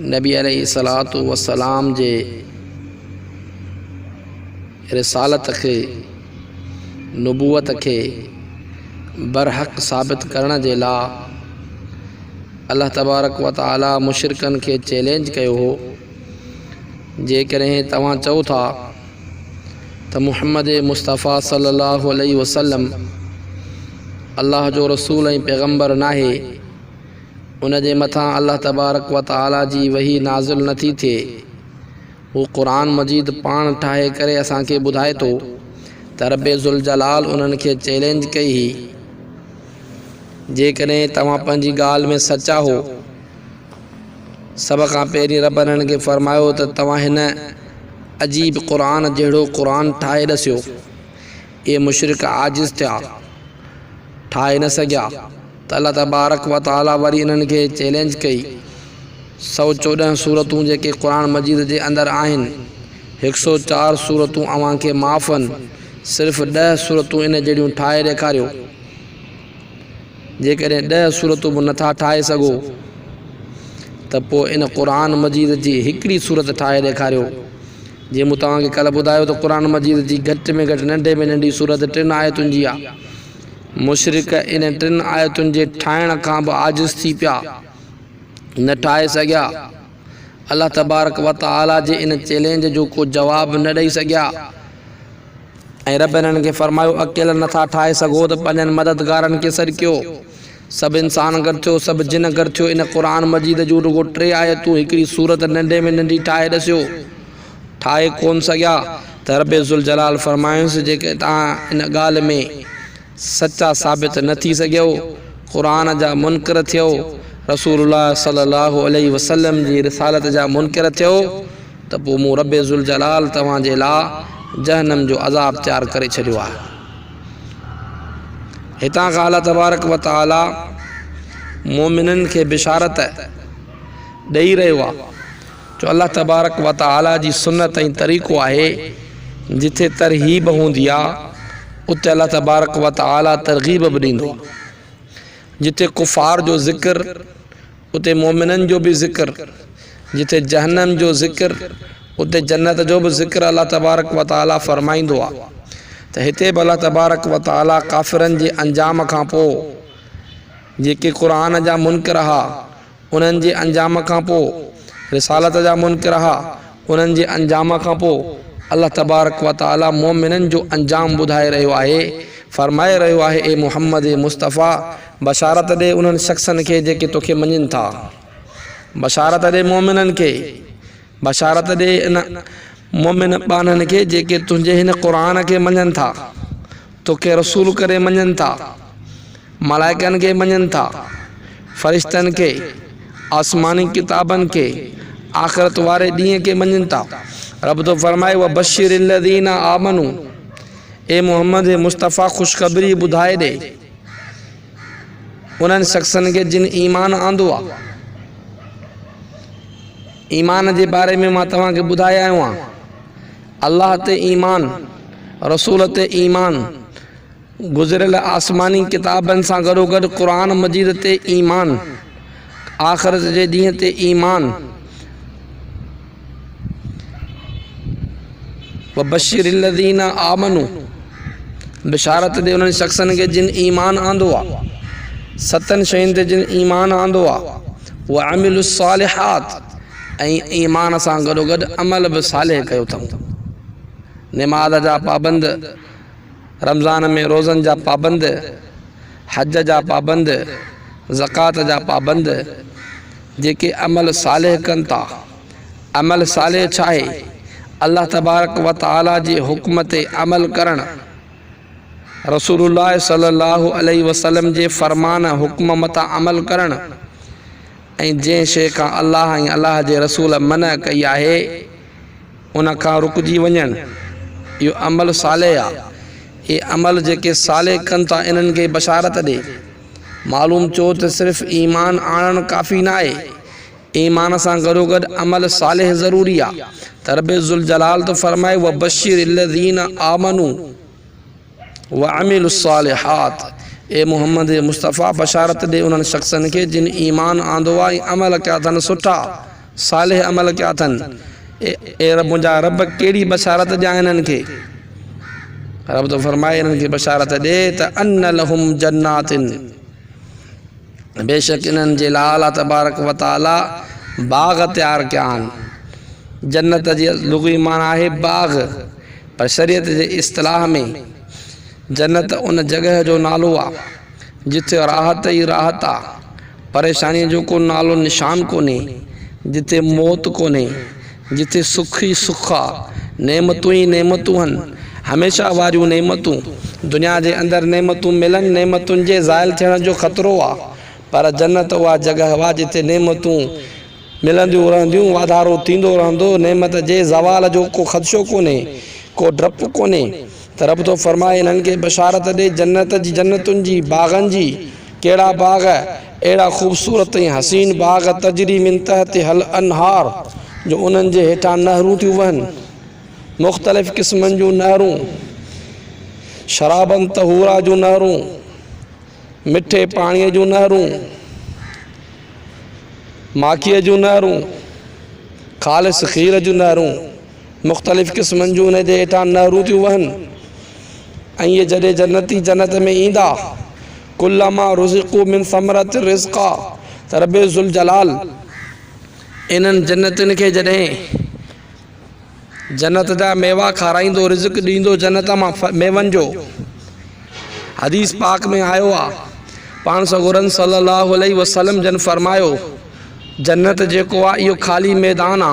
نبي عليه الصلوة والسلام جي رسالت کي، نبوت کي، برحق ثابت ڪرڻ جي لا الله تبارڪ و تعالي مشرڪن کي چئلينج ڪيو هو، جيڪڏهن توهان چئو ٿا ته محمد مصطفيٰ صلّي الله عليه وسلّم الله جو رسول ۽ پيغمبر ناهي، ان جي مٿان الله تبارڪ و تعاليٰ جي وحي نازل نه ٿي ٿئي. هو قرآن مجيد پاڻ ٺاهي ڪري اسان کي ٻڌائي ٿو ته رب ذوالجلال انهن کي چئلينج ڪئي هئي، جيڪڏهن توهان پنهنجي ڳالهه ۾ سچا هو، سڀ کان پهرين رب انهن کي فرمايو ته توهان هن عجيب قرآن جهڙو قرآن ٺاهي ڏسيو، اهي مشرڪ عاجز ٿيا، ٺاهي نه سگهيا ته الله تبارڪ و تعالي وري انهن کي چئلينج ڪئي. سؤ چوڏهن سورتون جيڪي قرآن مجيد جي اندر آهن، هڪ سؤ چار سورتون اوهان کي معاف هن، صرف ڏهه سورتون ان جهڙيون ٺاهي ڏيکاريو. جيڪڏهن ڏهه سورتون به نٿا ٺاهي سگهو ته پوء ان قرآن مجيد جي هڪڙي سورت ٺاهي ڏيکاريو جيئن مون توهان کي ڪلهه ٻڌايو ته قرآن مجيد جي گهٽ ۾ گهٽ ننڍي ۾ ننڍي سورت ٽن آيتن جي آهي. مشرڪ انهن ٽن آيتن جي ٺاهڻ کان به عاجز ٿي پيا، نه ٺاهي سگهيا. الله تبارڪ وتعاليٰ جي ان چئلينج جو ڪو جواب نه ڏئي سگهيا ۽ رب انهن کي فرمايو اڪيلا نٿا ٺاهي سگهو ته پنهنجن مددگارن کي سڏ ڪيو. سڀ انسان گڏ ٿيو، سڀ جن گڏ ٿيو، ان قرآن مجيد جون رڳو ٽي آيتون هڪڙي سورت ننڍي ۾ ننڍي ٺاهي ڏسيو. ٺاهي ڪونه سگهيا ته ربّ ذوالجلال فرمايائونس جيڪڏهن توهان ان ڳالهه ۾ سچا ثابت نه ٿي سگهيو، قرآن جا منڪر ٿيو، رسول الله صلّي الله عليه وسلّم جي رسالت جا منڪر ٿيو ته پوء مون ربّ ذوالجلال توهان جي لاء جهنّم جو عذاب تيار ڪري ڇڏيو آهي. هتان کان الله تبارڪ و تعالي مؤمنن کي بشارت ڏئي رهيو آهي جو الله تبارڪ و تعالي جي سنت ۽ طريقو آهي جتي ترغيب هوندي آهي اتي الله تبارڪ و تعالي ترغيب به ڏيندو آهي جتي ڪفار جو ذڪر اتي مؤمنن جو به ذڪر، جتي جهنم جو ذڪر اتي جنت جو به ذڪر الله تبارڪ و تعاليٰ فرمائيندو آهي ته هتي به الله تبارڪ و تعاليٰ ڪافرن جي انجام کان پوء جيڪي قرآن جا منڪر ها انهن جي انجام کان پوء رسالت جا منڪر ها انهن جي انجام کان پوء الله تبارڪ و تعالي مؤمنن جو انجام ٻڌائي رهيو آهي، فرمائي رهيو آهي، اي محمد مصطفيٰ! بشارت ڏي انهن شخصن کي جيڪي توکي مڃين ٿا. بشارت ڏي مؤمنن کي. بشارت ڏي ان مؤمن ٻانهن کي جيڪي تنهنجي هن قرآن کي مڃين ٿا، توکي رسول ڪري مڃين ٿا. ملائڪن کي مڃن ٿا، فرشتن کي، آسماني ڪتابن کي، آخرت واري ڏينهن کي مڃن ٿا. رب ٿو فرمائي، وبشر الذين آمنو، اي محمد اي مصطفيٰ خوشخبري ٻڌائي ڏي انهن شخصن کي جن ايمان آندو آ. ايمان جي باري ۾ مان توهان کي ٻڌائي آيو آهيان. الله تي ايمان، رسول تي ايمان. گذريل آسماني ڪتابن سان گڏوگڏ قرآن مجيد تي ايمان، آخرت جي ڏينهن تي ايمان، وبشر الذين آمنوا بشارت ڏي انهن شخصن کي جن ايمان آندو آهي ستن شين تي جن ايمان آندو آهي وعملوا الصالحات ۽ ايمان سان گڏوگڏ عمل به صالح ڪيو اٿئون نماز جا پابند رمضان ۾ روزن جا پابند، حج جا پابند، زڪوات جا پابند، جيڪي عمل صالح ڪن ٿا. عمل صالح ڇا آهي؟ الله تبارڪ و تعاليٰ جي حڪم تي عمل ڪرڻ. رسول الله صلي الله عليه وسلم جي فرمان، حڪم، مٿان عمل ڪرڻ ۽ جنهن شيء کان الله ۽ الله جي رسول منع ڪئي آهي، ان کان رڪجي وڃڻ، اهو عمل صالح آ. اهي عمل جيڪي صالح ڪن ٿا انهن کي بشارت ڏي. معلوم ٿيو ته صرف ايمان آڻڻ ڪافي ناهي، ايمان سان گڏوگڏ عمل صالح ضروري آ ته رب ذوالجلال ٿو فرمائي وبشر الذين آمنوا. وعملوا الصالحات، اي محمد مصطفيٰ! بشارت ڏي انهن شخصن کي جن ايمان آندو آهي ۽ عمل ڪيا اٿن سٺا، صالح عمل ڪيا اٿن. اي رب منهنجا! رب ڪهڙي بشارت ڏيان انهن کي؟ رب ٿو فرمائي، انهن کي بشارت ڏي ته ان لهم جنات. بيشڪ انهن جي لاء الله تبارڪ و تعاليٰ باغ تيار ڪيا آهن. جنت جي لغوي معنيٰ آهي باغ پر شريعت جي اصطلاح ۾ جنت ان جڳهه جو نالو آهي جتي راحت ئي راحت آهي، پريشانيء جو ڪو نالو نشان ڪونهي، جتي موت ڪونهي، جتي سک ئي سک آ، نعمتون ئي نعمتون هن، هميشه واريون نعمتون. دنيا جي اندر نعمتون ملن، نعمتن جي زائل ٿيڻ جو خطرو آ، پر جنت اها جڳهه آ جتي نعمتون ملنديون رهنديون، واڌارو ٿيندو رهندو، نعمت جي زوال جو ڪو خدشو ڪونهي، ڪو ڊپ ڪونهي ته رب ٿو فرمائي، انهن کي بشارت ڏي جنت جي، جنتن جي، باغن جي، ڪهڙا باغ؟ اهڙا خوبصورت ۽ حسين باغ تجري من تحتها الانهار جو انهن جي هيٺان نهرون ٿيون وهن. مختلف قسمن جون نهرون، شرابا طهورا جون نهرون، مٺي پاڻيء جون نهرون، ماکيء جون نهرون، خالص کير جون نهرون، مختلف قسمن جون انهن جي هيٺان نهرون ٿيون وهن ۽ اهي جڏهن جنتي جنت ۾ ايندا ڪلما رزقو من ثمرة رزقا ته رب ذوالجلال انهن جنتين کي جڏهن جنت جا ميوا کارائيندو رزق ڏيندو جنت مان ميون جو حديث پاڪ ۾ آيو آ پاڻ سڳورن صلي الله عليه وسلم جن فرمايو جنت جيڪو آ اهو خالي ميدان آ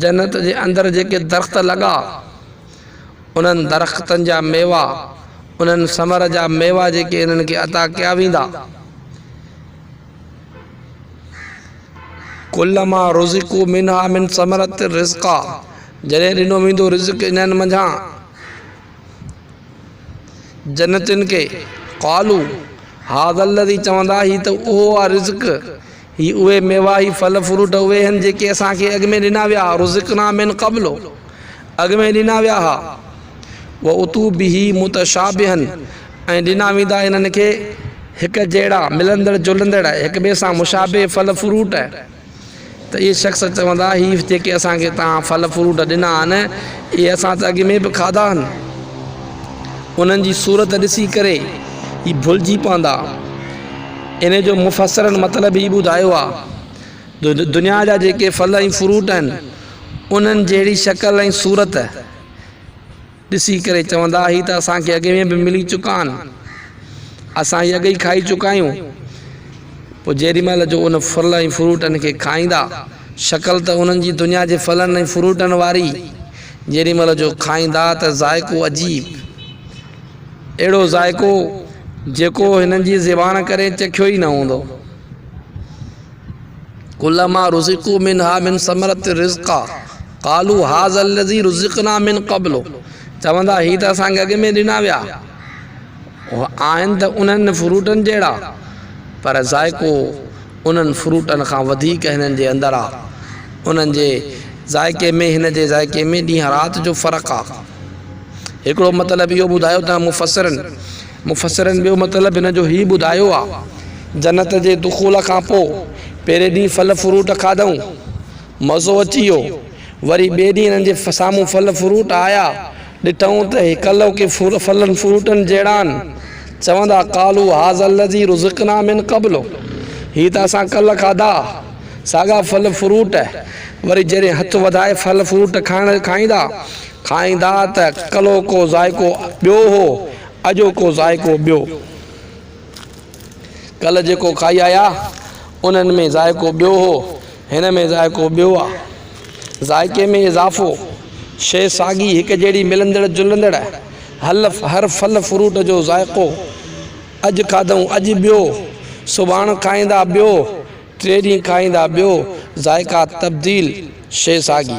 جنت جي اندر جيڪي درخت لڳا، انهن درختن جا ميوا، انهن ثمر جا ميوا جيڪي انهن کي عطا ڪيا ويندا. ڪلما رزقوا منها من ثمرة رزقا، جڏهن ڏنو ويندو رزق انهن منجهان جنتين کي، قالوا هذا الذي چوندا هي ته اهو آهي رزق هي اهي ميوا، هي ڦل فروٽ اهي هن جيڪي اسان کي اڳ ۾ ڏنا ويا ها، رزقنا من قبل، اڳ ۾ ڏنا ويا ها، واتو به متشابها ۽ ڏنا ويندا انهن کي هڪ جهڙا، ملندڙ جلندڙ، هڪ ٻئي سان مشابه ڦل فروٽ، ته اهي شخص چوندا، هي جيڪي اسان کي توهان ڦل فروٽ ڏنا آهن، اهي اسان ته اڳ ۾ به کاڌا آهن. انهن جي صورت ڏسي ڪري هي ڀلجي پوندا. انهيء جو مفسرن مطلب هي ٻڌايو آهي جو دنيا جا جيڪي ڦل ۽ فروٽ آهن، انهن جهڙي شڪل ۽ صورت ڏسي ڪري چوندا، هي ته اسان کي اڳ ۾ به ملي چڪا آهن، اسان هي اڳ ئي کائي چڪا آهيون. پوء جيڏي مهل جو ان ڦل ۽ فروٽن کي کائيندا، شڪل ته انهن جي دنيا جي ڦلن ۽ فروٽن واري، جيڏي مهل جو کائيندا ته ذائقو عجيب! اهڙو ذائقو جيڪو هنن جي زبان ڪري چکيو ئي نه هوندو. ڪلما رزقو منها من ثمرت رزقا قالو هذا الذي رزقنا من قبل چوندا هي ته اسان کي اڳ ۾ ڏنا ويا آهن ته انهن فروٽن جهڙا پر ذائقو انهن فروٽن کان وڌيڪ هنن جي اندر آ انهن جي ذائقي ۾ هن جي ذائقي ۾ ڏينهن رات جو فرق آ. هڪڙو مطلب اهو ٻڌايو ته مفسرن مفسرن ٻيو مطلب هن جو هي ٻڌايو آ جنت جي دخول کان پوء پهرين ڏينهن ڦل فروٽ کاڌئون مزو اچي ويو وري ٻئي ڏينهن هنن جي سامهون ڦل فروٽ آيا ڏٺئون ته هي ڪلهو ڪي ڦلن فروٽن جهڙا آهن چوندا قالوا هذا الذي رزقنا من قبل هي ته اسان ڪلهه کاڌا ساڳا ڦل فروٽ وري جڏهن هٿ وڌائي ڦل فروٽ کائڻ کائيندا کائيندا ته ڪلوڪو ذائقو ٻيو هو، اڄوڪو ذائقو ٻيو. ڪلهه جيڪو کائي آيا، انهن ۾ ذائقو ٻيو هو، هن ۾ ذائقو ٻيو آ. ذائقي ۾ اضافو، شيء ساڳي هڪجهڙي ملندڙ جلندڙ، حلف، هر ڦل فروٽ جو ذائقو، اڄ کاڌئون اڄ ٻيو، سڀاڻ کائيندا ٻيو، ٽئين ڏينهن کائيندا ٻيو، ذائقا تبديل، شيء ساڳي.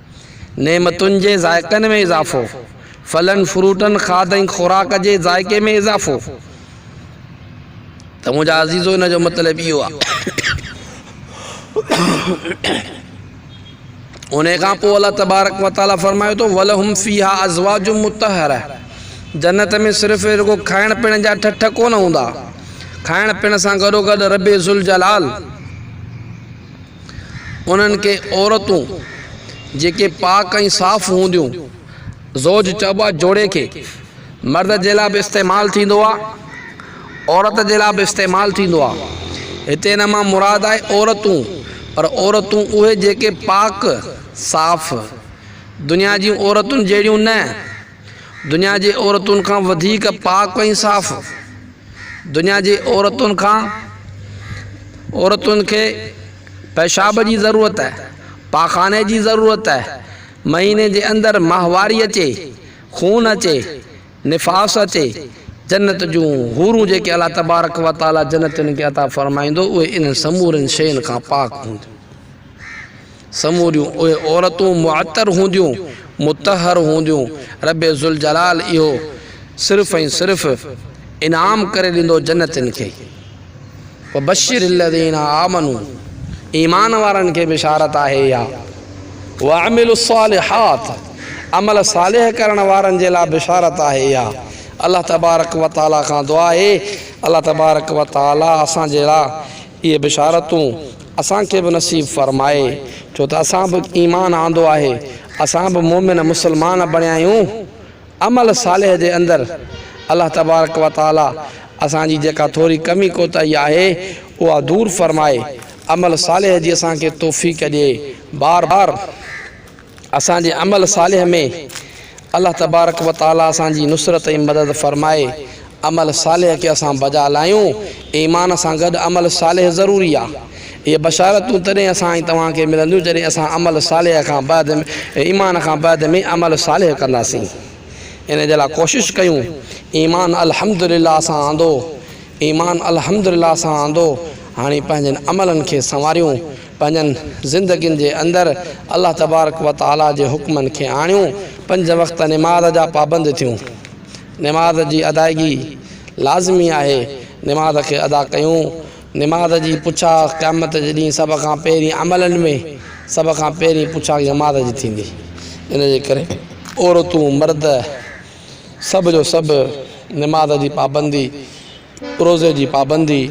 نعمتن جي ذائقن ۾ اضافو، ڦلن فروٽن کاڌ ۽ خوراڪ جي ذائقي ۾ اضافو ته منهنجا عزيزو ان جو مطلب اهو آهي ان کان پوء الله تبارڪ وتعالي فرمايو ته ولهم فيها ازواج مطهره جنت ۾ صرف رڳو کائڻ پيڻ جا ٺٺ ڪونه هوندا کائڻ پيڻ سان گڏو گڏ رب ذوالجلال انهن کي عورتون جيڪي پاڪ ۽ صاف هونديون، زوج چئبو آهي جوڙي کي مرد جي لاء به استعمال ٿيندو آهي عورت جي لاء به استعمال ٿيندو آهي هتي ان مان مراد آهي عورتون پر عورتون اهي جيڪي پاڪ صاف دنيا جي عورتن جهڙيون نه دنيا جي عورتن کان وڌيڪ پاڪ ۽ صاف. دنيا جي عورتن کان عورتن کي پيشاب جي ضرورت آهي، پاخاني جي ضرورت آهي، مهيني جي اندر ماهواري اچي، خون اچي، نفاس اچي، جنت جون حورون جيڪي الله تبارڪ و تعالي جنت انهن کي عطا فرمائيندو اهي انهن سمورين شين کان پاڪ هونديون. سموريون اهي عورتون معطر هونديون، مطهر هونديون، رب ذوالجلال اهو صرف ۽ صرف انعام ڪري ڏيندو جنتين کي. وبشر الذين آمنوا ايمان وارن کي بشارت آهي اها. وعملوا الصالحات عمل صالح ڪرڻ وارن جي لاء بشارت آهي اها. الله تبارڪ وتعاليٰ کان دعا آهي الله تبارڪ وتعاليٰ اسان جي لاء اهي بشارتون اسان کي به نصيب فرمائي، ڇو ته اسان به ايمان آندو آهي، اسان به مؤمن مسلمان بڻيا آهيون. عمل صالح جي اندر الله تبارڪ و تعاليٰ اسان جي جيڪا ٿوري ڪمي ڪوتاهي آهي، اها دور فرمائي، عمل صالح جي اسان کي توفيق ڏئي. بار بار. اسان جي عمل صالح ۾ الله تبارڪ و تعاليٰ اسان جي نصرت ۽ مدد فرمائي عمل صالح کي اسان بجا لايون. ايمان سان گڏ عمل صالح ضروري آ. اهي بشارتون تڏهن اسان ۽ توهان کي ملنديون جڏهن اسان عمل صالح کان بعد ايمان کان بعد ۾ عمل صالح ڪنداسين. ان جي لاء ڪوشش ڪيون. ايمان الحمدلله اسان آندو ايمان الحمدلله اسان آندو هاڻي پنهنجن عملن کي سنواريون. پنهنجن زندگين جي اندر الله تبارڪ و تعالي جي حڪمن کي آڻيون، پنج وقت نماز جا پابند ٿيون، نماز جي ادائگي لازمي آهي، نماز کي ادا ڪيون، نماز جي پڇا قيامت جي ڏينهن سڀ کان پهرين عملن ۾ سڀ کان پهرين پڇا نماز جي ٿيندي، ان جي ڪري عورتون، مرد. سڀ جو سڀ نماز جي پابندي، روزي جي پابندي،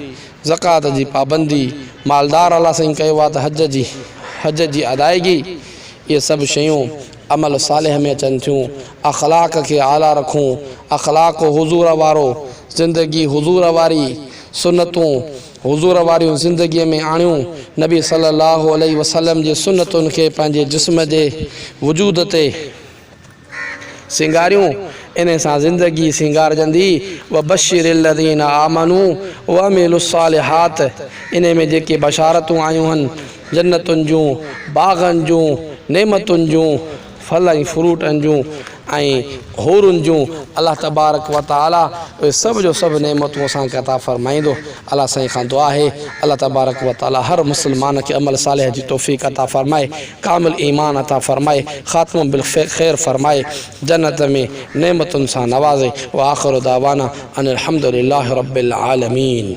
زڪوات جي پابندي، مالدار الله سائين ڪيو آ ته حج جي حج جي ادائگي اهي سڀ شيون عمل صالح ۾ اچن ٿيون اخلاق کي اعليٰ رکون اخلاق حضور وارو زندگي حضور واري سنتون حضور واريون زندگي ۾ آڻيون نبي صلي الله عليه وسلم جي سنتن کي پنهنجي جسم جي وجود تي سينگاريون، انهي سان زندگي سينگارجندي، وبشر الذين آمنو وعملوا الصالحات، انهي ۾ جيڪي بشارتون آيون هن، جنتن جون، باغن جون، نعمتن جون، ڦل ۽ فروٽن جون ۽ حورن جون، الله تبارڪ وتعالي اهي سڀ جو سڀ نعمتون اسان کي عطا فرمائيندو، الله سائين کان دعا آهي الله تبارڪ وتعالي هر مسلمان کي عمل صالح جي توفيق عطا فرمائي. ڪامل ايمان عطا فرمائي خاتمو بالخير فرمائي جنت ۾ نعمتن سان نوازي واخر دعوانا ان الحمدلله رب العالمين.